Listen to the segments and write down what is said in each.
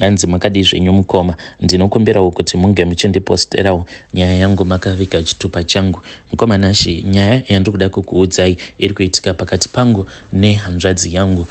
Hanzi makadii zvenyu mukoma, ndinokumbirawo kuti munge muchindiposterawo nyaya yangu makaviga chitupa changu. Mukoma Nashy, nyaya yandiri kuda kukuudzai iri kuitika pakati pangu nehanzvadzi yangu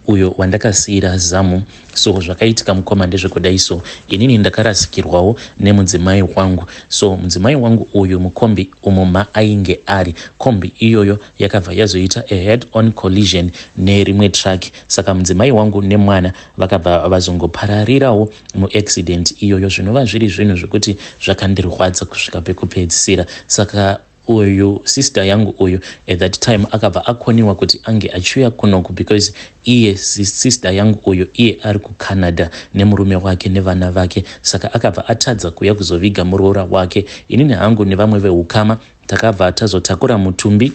uyo wandakasiira zamu. So zvakaitika mukoma ndezvekudai so inini ndakarasikirwawo nemudzimai wangu. So mudzimai wangu uyu mukombi umo maainge ari, kombi iyoyo yakabva yazoita a head on collision nerimwe truck saka mudzimai wangu nemwana vakabva vazongopararirawo muaccident iyoyo zvinova zviri zvinhu zvekuti zvakandirwadza kusvika pekupedzisira saka uyu sister yangu uyu at that time akabva akoniwa kuti ange achiuya kunoku because iye sister yangu uyu iye ari kucanada nemurume wake nevana vake saka akabva atadza kuuya kuzoviga muroora wake inini hangu nevamwe veukama Takabva tazotakura mutumbi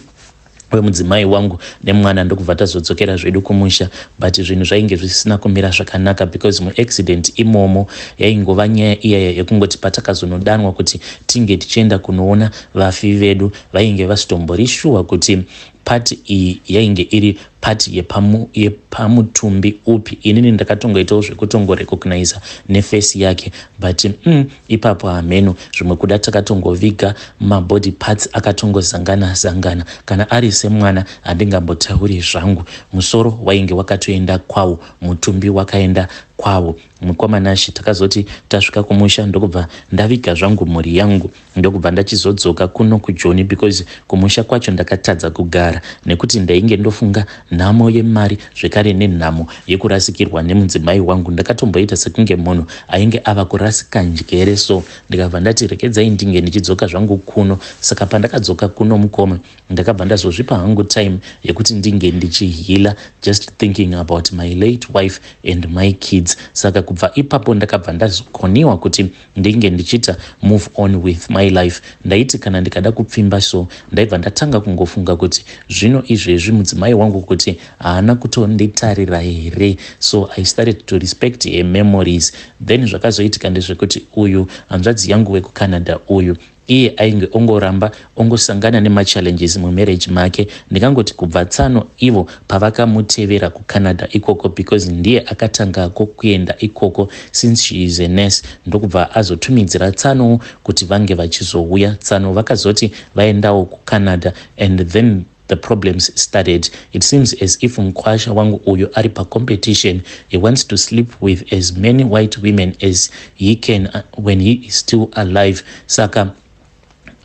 wemudzimai wangu nemwana ndokubva tazodzokera zvedu kumusha but zvinhu zvainge zvisina kumira zvakanaka because muaccident imomo yaingova nyaya iyaya yekungoti patakazonodanwa kuti tinge tichienda kunoona vafi vedu vainge vasitomborishuwa kuti Part iyi yainge iri part yepamu, yepamutumbi upi inini ndakatongoitawo zvekutongorecogniza nefesi yake but mm, ipapo hameno zvimwe kuda takatongoviga mabody parts akatongozangana zangana kana ari semwana handingambotauri zvangu musoro wainge wakatoenda kwawo mutumbi wakaenda kwawo mukoma nashe takazoti tasvika kumusha ndokubva ndaviga zvangu mhuri yangu ndokubva ndachizodzoka kuno kujoni because kumusha kwacho ndakatadza kugara nekuti ndainge ndofunga nhamo yemari zvekare nenhamo yekurasikirwa nemudzimai wangu ndakatomboita sekunge munhu ainge ava kurasika njere so ndikabva ndati rekedzai ndinge ndichidzoka zvangu kuno saka pandakadzoka kuno mukoma ndakabva ndazozvipa hangu time yekuti ndinge ndichihila just thinking about my late wife and my kids saka kubva ipapo ndakabva ndazokoniwa kuti ndinge ndichita move on with my life ndaiti kana ndikada kupfimba so ndaibva ndatanga kungofunga kuti zvino izvezvi mudzimai wangu kuti haana kutonditarira here so i started to respect her memories then zvakazoitika ndezvekuti uyu hanzvadzi yangu wekucanada uyu Iye ainge ongoramba ongosangana nemachallenges mumarriage make ndingangoti kubva tsano ivo pavakamutevera kucanada ikoko because ndiye akatangako kuenda ikoko since she is a nurse ndokubva azotumidzira tsanowo kuti vange vachizouya tsano vakazoti vaendawo kucanada and then The problems started. It seems as if mkwasha wangu uyu ari pacompetition. He wants to sleep with as many white women as he can uh, when he is still alive. Saka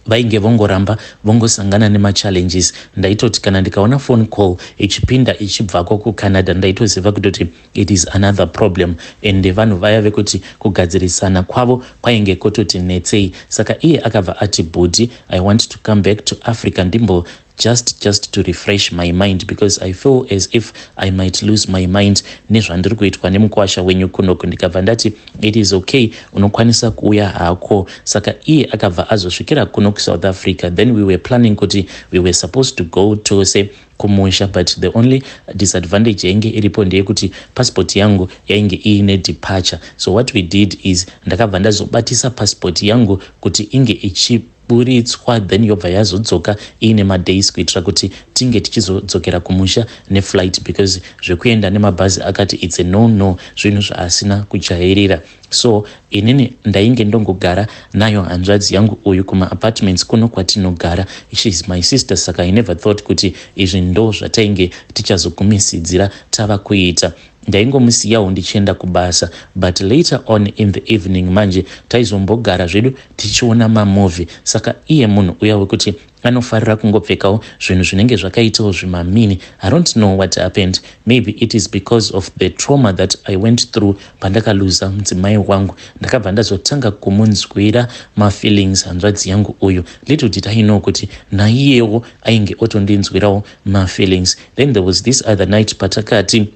vainge vongoramba vongosangana nemachallenges. Ndaitoti kana ndikaona phone call ichipinda ichibvako kucanada ndaitoziva kutoti It is another problem and vanhu vaya vekuti kugadzirisana kwavo kwainge kototi netsei saka iye akabva ati bhudhi I want to come back to Africa ndimbo just just to refresh my mind because I feel as if I might lose my mind nezvandiri kuitwa nemukwasha wenyu kunoku ndikabva ndati it is okay unokwanisa kuuya hako saka iye akabva azosvikira kuno kuSouth Africa then we were planning kuti we were supposed to go tose kumusha but the only disadvantage yainge iripo ndeyekuti passport yangu yainge iine departure so what we did is ndakabva ndazobatisa passport yangu kuti inge ichi buritswa then yobva yazodzoka iine madays kuitira kuti tinge tichizodzokera kumusha neflight because zvekuenda nemabhazi akati its a no no zvinhu zvaasina kujairira So inini ndainge ndongogara nayo hanzvadzi yangu uyu kuma apartments kuno kwatinogara. She is my sister saka I never thought kuti izvi ndo zvatainge tichazogumisidzira tava kuita. Ndaingomusiyawo ndichienda kubasa but later on in the evening manje taizombogara zvedu tichiona mamovie saka iye munhu uya wekuti Anofarira kungopfekawo zvinhu zvinenge zvakaitawo zvimamini. I don't know what happened. Maybe it is because of the trauma that I went through pandakaluza mudzimai wangu. Ndakabva ndazotanga kumunzwira mafeelings hanzvadzi yangu uyu. Little did I know kuti naiyewo ainge otondinzwirawo mafeelings. Then there was this other night patakati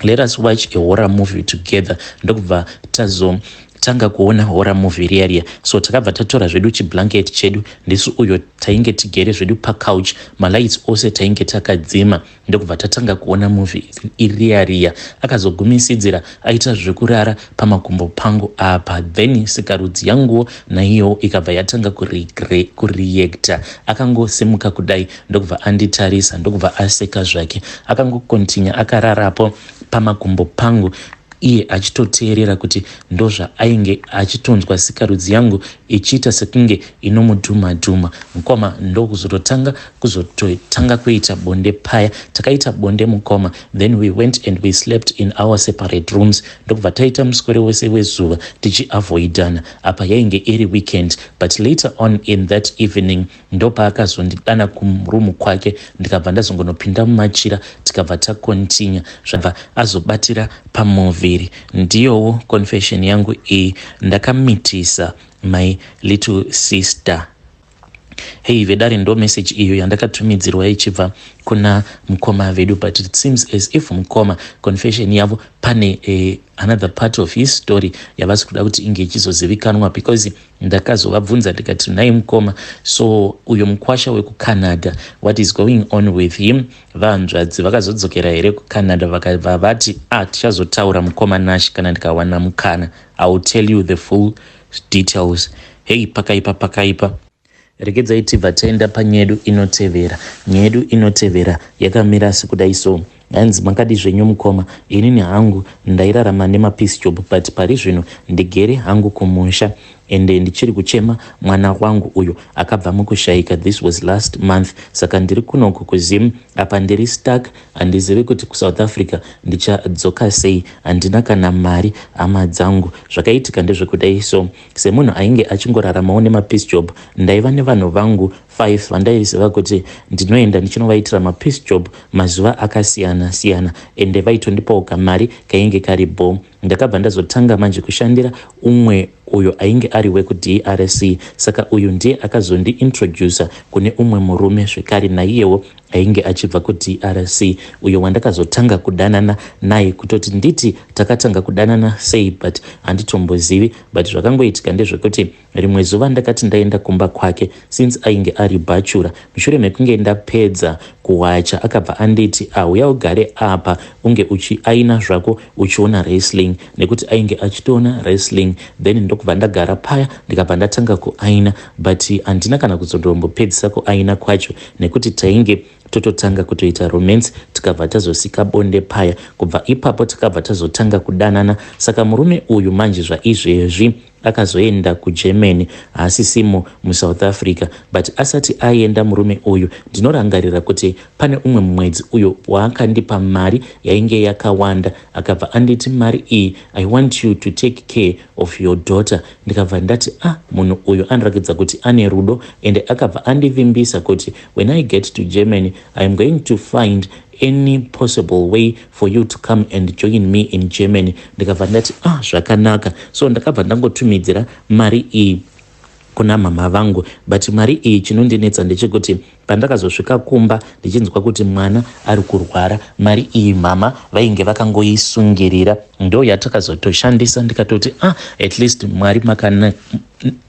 let us watch a horror movie together ndokubva tazo tanga kuona horror movie riya riya so takabva tatora zvedu chiblanket chedu ndisu uyo tainge tigere zvedu pacouch malights ose tainge takadzima ndokubva tatanga kuona movie iriya riya akazogumisidzira aita zvekurara pamakumbo pangu apa then sikarudzi yanguwo naiyowo ikabva yatanga kureacta akangosimuka kudai ndokubva anditarisa ndokubva aseka zvake akangokontinya akararapo pamakumbo pangu iye achitoteerera kuti ndozvaainge achitonzwa sikarudzi yangu ichiita sekunge inomudhuma dhuma mukoma ndokuzototanga kuzototanga kuita bonde paya takaita bonde mukoma then we went and we slept in our separate rooms ndokubva taita muswere wese wezuva tichiavoidana apa yainge iri weekend but later on in that evening ndopaakazondidana kurumu kwake ndikabva ndazongonopinda mumachira tikabva takontinya zvabva azobatira pamuviri ndiyowo confession yangu iyi ndakamitisa my little sister Hey vedare ndo message iyo yandakatumidzirwa ichibva kuna mukoma vedu but it seems as if mukoma confession yavo pane eh, another part of his story yavasi kuda kuti inge ichizozivikanwa because ndakazovabvunza ndikati nhai mukoma so uyo mukwasha wekucanada what is going on with him vahanzvadzi vakazodzokera here kucanada vakabva vati ah tichazotaura mukoma nash kana ndikawana mukana i will tell you the full details hey pakaipa pakaipa. Regedzai tibva taenda panyedu inotevera. Nyedu inotevera yakamira sekudai so. Hanzi makadi zvenyu mukoma, inini hangu ndairarama nemapiece job but pari zvino ndigere hangu kumusha ende ndichiri kuchema mwana wangu uyo akabva mukushaika this was last month saka ndiri kunoku kuzim apa ndiri stuck Handizivi kuti kuSouth Africa ndichadzoka sei, handina kana mari hama dzangu. Zvakaitika ndezvekudai so, semunhu ainge achingoraramawo nemapiece job, ndaiva nevanhu vangu five vandaiziva kuti ndinoenda ndichinovaitira mapiece job mazuva akasiyana siyana ende vaitondipawo kamari kainge kari bho. Ndakabva ndazotanga manje kushandira umwe uyo ainge ari wekuDRC saka uyu ndiye akazondiintroducer kune umwe murume zvekare naiyewo ainge achibva kuDRC uyo wandakazotanga kudanana naye kutoti nditi takatanga kudanana sei but handitombozivi but zvakangoitika ndezvekuti Rimwe zuva ndakati ndaenda kumba kwake since ainge ari bhachura. Mushure mekunge ndapedza kuwacha akabva anditi ahuya ugare apa unge uchi aina zvako uchiona wrestling nekuti ainge achitoona wrestling then ndokubva ndagara paya ndikabva ndatanga kuaina but handina kana kuzondombopedzisa kuaina kwacho nekuti tainge tototanga kutoita romance tikabva tazosika bonde paya kubva ipapo takabva tazotanga kudanana saka murume uyu manje zvaizvezvi Akazoenda kuGermany haasisimo muSouth Africa but asati aenda murume uyu ndinorangarira kuti pane umwe mwedzi uyo waakandipa mari yainge yakawanda akabva anditi mari iyi I want you to take care of your daughter ndikabva ndati ah munhu uyu anorakidza kuti ane rudo ende akabva andivimbisa kuti when I get to Germany I am going to find any possible way for you to come and join me in Germany ndikabva ndati ah zvakanaka so ndakabva ndangotumidzira mari iyi kuna mama vangu but mari iyi chinondinetsa ndechekuti pandakazosvika kumba ndichinzwa kuti mwana ari kurwara mari iyi mama vainge vakangoisungirira ndo yatakazotoshandisa ndikatoti ah at least mwari makana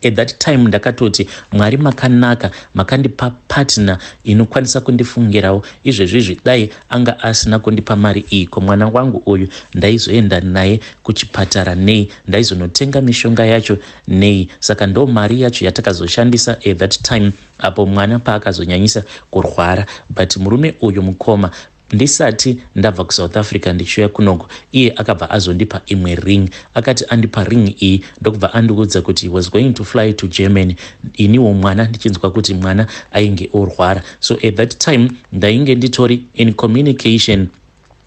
at that time ndakatoti mwari makanaka makandipa partner inokwanisa kundifungirawo izvezvizvi dai anga asina kundipa mari iyi ko mwana wangu uyu ndaizoenda naye kuchipatara nei ndaizonotenga mishonga yacho nei saka ndo mari yacho yatakazoshandisa at that time apo mwana paakazonyanyisa kurwara but murume uyu mukoma Ndisati ndabva kuSouth Africa ndichiuya kunoku, iye akabva azondipa imwe ring. Akati andipa ring iyi ndokubva andiudza kuti he was going to fly to Germany, iniwo mwana ndichinzwa kuti mwana ainge orwara. So at that time ndainge nditori in communication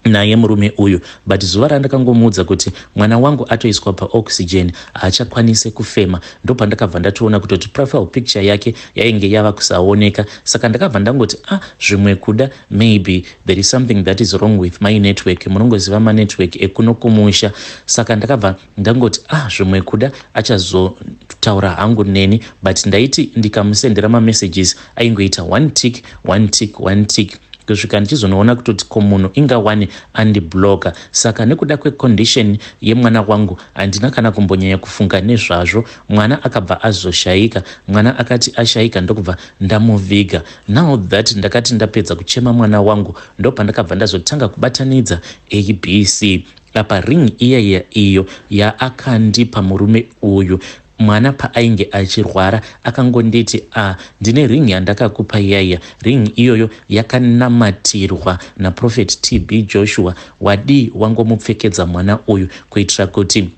naye murume uyu but zuva randakangomuudza kuti mwana wangu atoiswa paoxygen haachakwanise kufema ndopandakabva ndatoona kutoti profile picture yake yainge yava kusaoneka saka ndakabva ndangoti a ah, zvimwe kuda Maybe there is something that is wrong with my network munongoziva manetwork ekuno kumusha saka ndakabva ndangoti ah zvimwe kuda achazotaura hangu neni but ndaiti ndikamusendera mamessages aingoita one tick one tick one tick kusvika ndichizonoona kutoti ko munhu inga wani andibloka saka nekuda kwecondition yemwana wangu handina kana kumbonyanya kufunga nezvazvo mwana akabva azoshayika mwana akati ashayika ndokubva ndamuviga Now that ndakati ndapedza kuchema mwana wangu ndopandakabva ndazotanga kubatanidza abc apa ring iya iya iyo yaakandipa murume uyu mwana paainge achirwara akangonditi a ah, ndine ring yandakakupa yaiya ring iyoyo yakanamatirwa naprofet tb joshua wadii wangomupfekedza mwana uyu kuitira kuti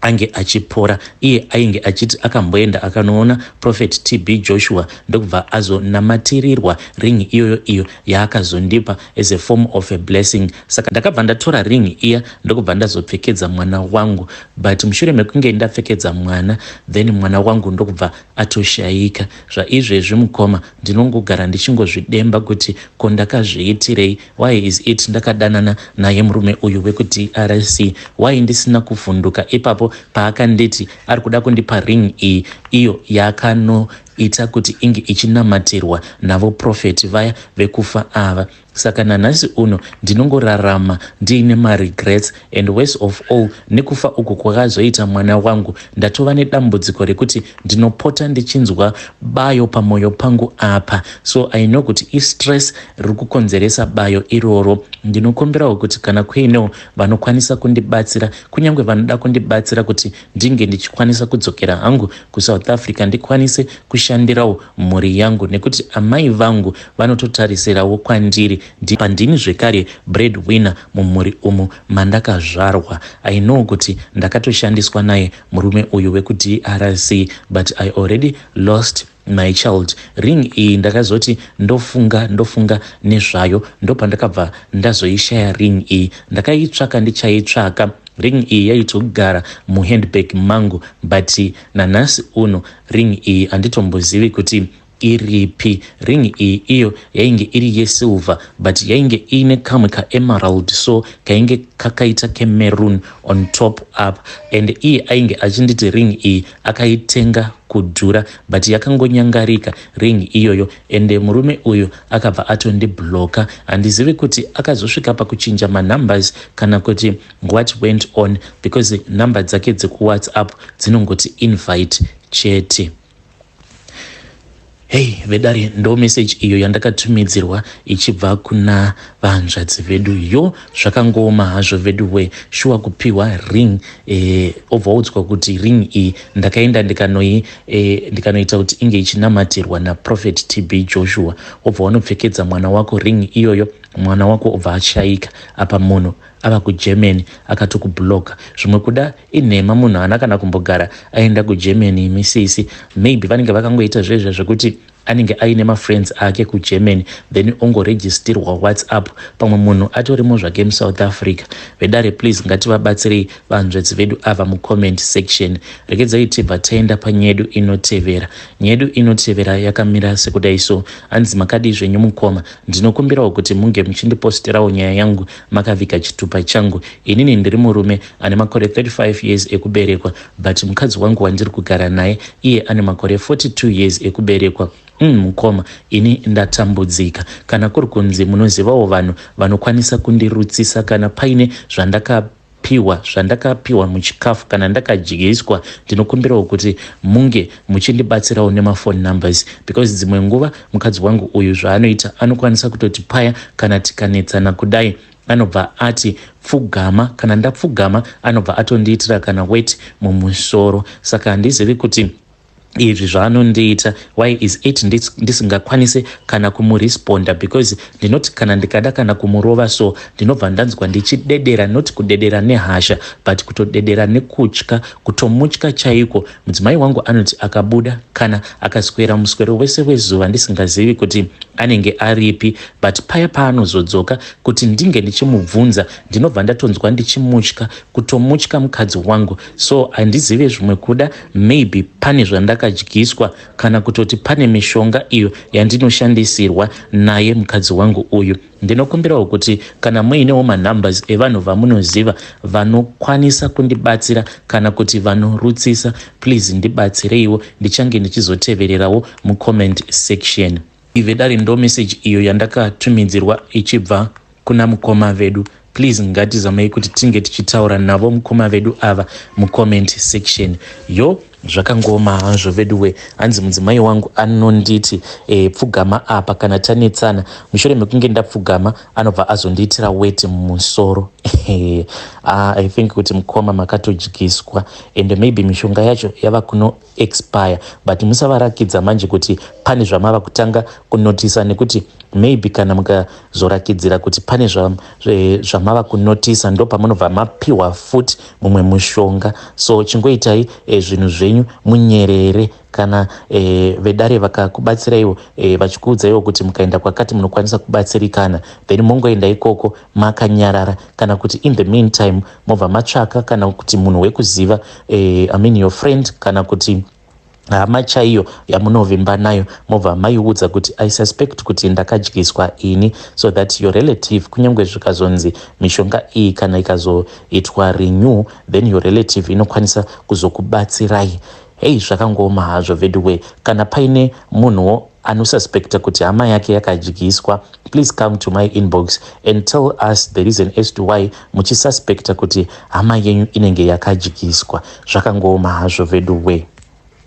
ange achipora iye ainge achiti akamboenda akanoona prophet tb joshua ndokubva azonamatirirwa ring iyoyo iyo yaakazondipa as a form of a blessing saka ndakabva ndatora ring iya ndokubva ndazopfekedza mwana wangu but mushure mekunge ndapfekedza mwana then mwana wangu ndokubva atoshaika zvaizvezvi mukoma ndinongogara ndichingozvidemba kuti ko ndakazviitirei Why is it ndakadanana naye murume uyu wekuDRC why ndisina kuvhunduka ipapo paakanditi ari kuda kundipa ring iyi iyo yakano ita kuti inge ichinamatirwa navo profeti vaya vekufa ava saka nanhasi uno ndinongorarama ndiine maregrets And worse of all, nekufa uku kwakazoita mwana wangu, ndatova nedambudziko rekuti ndinopota ndichinzwa bayo pamoyo pangu apa. So I know kuti istress riri kukonzeresa bayo iroro. Ndinokumbirawo kuti kana kuinewo vanokwanisa kundibatsira, kunyange vanoda kundibatsira kuti ndinge ndichikwanisa kudzokera hangu kuSouth Africa ndikwanise kushandirawo mhuri yangu nekuti amai vangu vanototarisirawo kwandiri Ndipa ndini zvekare bread winner mumhuri umu mandakazvarwa. I know kuti ndakatoshandiswa naye murume uyu weku DRC but I already lost my child. Ring iyi ndakazoti ndofunga ndofunga nezvayo ndopandakabva ndazoishaya ring iyi. Ndakaitsvaka ndichaitsvaka ring iyi yaitogara muhandbag mangu but nanhasi uno ring iyi handitombozivi kuti Iripi ring iyi iyo yainge iri yesilver but yainge iine kamwe kaemerald so kainge kakaita kemaroon on top up and iye ainge achinditi ring iyi akaitenga kudhura but yakangonyangarika ring iyoyo ende murume uyu akabva atondibloka handizivi kuti akazosvika pakuchinja manumbers kana kuti what went on because number dzake dzekuwhatsapp dzinongoti invite chete hei vedare ndo meseji iyo yandakatumidzirwa ichibva kuna vahanzvadzi vedu yo zvakangooma hazvo vedu we shuwa kupiwa ring e, obva udzwa kuti ring iyi ndakaenda ndikanoita e, ndikano kuti inge ichinamatirwa naprofet tb joshua obva wanopfekedza mwana wako ring iyoyo mwana wako obva ashaika apa munhu ava kuGermany akatokublocker zvimwe kuda inhema munhu haana kana kumbogara aenda kuGermany imi sisi maybe vanenge vakangoita zvezve zvekuti anenge aine mafriends ake kuGermany then ongoregistirwa whatsapp pamwe munhu atorimo zvake musouth africa vedare please ngativabatsirei vanzvedzi vedu ava mucomment section rekedzai tibva taenda panyedu inotevera nyedu inotevera yakamira sekudai so hanzi makadii zvenyu mukoma ndinokumbirawo kuti munge muchindipostirawo nyaya yangu makaviga chitupa changu inini ndiri murume ane makore 35 years ekuberekwa but mukadzi wangu wandiri kugara naye iye ane makore 42 years ekuberekwa mm, mukoma ini ndatambudzika kana kuri kunzi munozivawo vanhu vanokwanisa kundirutsisa kana paine zvandaka pihwa zvandakapihwa muchikafu kana ndakadyiswa ndinokumbirawo kuti munge muchindibatsirawo nemaphone numbers because dzimwe nguva mukadzi wangu uyu zvaanoita anokwanisa kutoti paya kana tikanetsana kudai anobva ati pfugama kana ndapfugama anobva atondiitira kana weti mumusoro saka handizivi kuti izvi zvaanondiita why is it ndisingakwanise kana kumuresponda because ndinoti kana ndikada kana kumurova so ndinobva ndanzwa ndichidedera not kudedera nehasha but kutodedera nekutya kutomutya chaiko mudzimai wangu anoti akabuda kana akaswera muswero wese wezuva ndisingazivi kuti anenge aripi but paya paanozodzoka kuti ndinge ndichimubvunza ndinobva ndatonzwa ndichimutya kutomutya mukadzi wangu so handizive zvimwe kuda Maybe pane zvandakadyiswa kana kutoti pane mishonga iyo yandinoshandisirwa naye mukadzi wangu uyu. Ndinokumbirawo kuti kana muinewo manumbers evanhu vamunoziva vanokwanisa kundibatsira kana kuti vanorutsisa please ndibatsireiwo ndichange ndichizotevererawo mucomment section. Vedare ndomessage iyo yandakatumidzirwa ichibva kuna mukoma vedu please ngatizamei kuti tinge tichitaura navo mukoma vedu ava mucomment section yo zvakangooma hazvo veduwe hanzi mudzimai wangu anonditi e, pfugama apa kana tanetsana mushure mekunge ndapfugama anobva azondiitira weti mumusoro ah, i think kuti mukoma makatodyiswa ende maybe mishonga yacho yava kuno expire but musavarakidza manje kuti pane zvamava kutanga kunotisa nekuti maybe kana mukazorakidzira kuti pane zvamava kunotisa ndo pamunobva mapiwa futi mumwe mushonga so chingoitai e, zvinhu zvenyu munyerere kana e, vedare vakakubatsiraiwo e, vachikuudzaiwo kuti mukaenda kwakati munokwanisa kubatsirikana then mongoenda ikoko makanyarara kana kuti in the meantime mobva matsvaka kana kuti munhu wekuziva eh, I mean your friend kana kuti hama chaiyo yamunovimba nayo mobva maiudza kuti i suspect kuti ndakadyiswa ini so that your relative kunyange zvikazonzi mishonga iyi kana ikazoitwa renew then your relative inokwanisa kuzokubatsirai hei zvakangooma hazvo veduwee kana paine munhuwo anosuspecta kuti hama yake yakadyiswa please come to my inbox and tell us the reason as to why muchisuspecta kuti hama yenyu inenge yakadyiswa zvakangooma hazvo veduwee